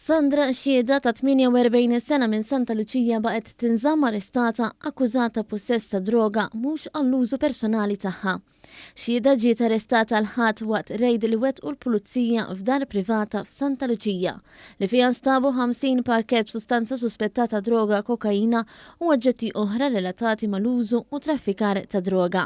Sandra, xhieda ta' 48 sena minn Santa Luċija baqgħet tinżamm arrestata akkużata ta' pussess ta' droga mhux għall-użu personali tagħha. Xhieda ġiet arrestata l-Ħadd waqt rejd li wettqu l-Pulizija f'dar privata f'Santa Luċija li fiha nstabu 50 pakkett b'sustanza suspettata droga kokaina u oġġetti oħra relatati mal-użu u traffikar ta' droga.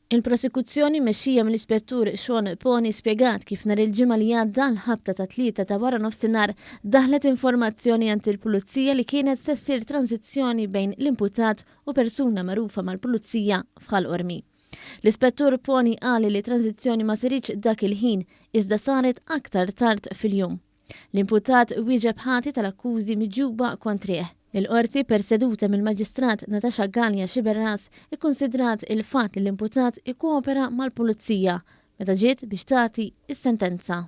Il-Prosekuzzjoni mmexxija mill-Ispettur Sean Poni spjegat kif nhar il-Ġimgħa li għadda, l-ħabta tat-Tlieta ta' waranofsinhar, daħlet informazzjoni għand il-Pulizija li kienet se ssir transizzjoni bejn l-imputat u persuna magħrufa mal-Pulizija f'Ħal Qormi. L-Ispettur Poni qal li t-transizzjoni ma saritx dak il-ħin, iżda saret aktar tard fil-jum. L-imputat wieġeb ħati tal-akkużi miġjuba kontrih. Il-Qorti, perseduta mill-Maġistrat Natasha Galea Sciberras, ikkunsidrat il-fatt li l-imputat ikkopera mal-Pulizija meta ġiet biex tagħti s-sentenza.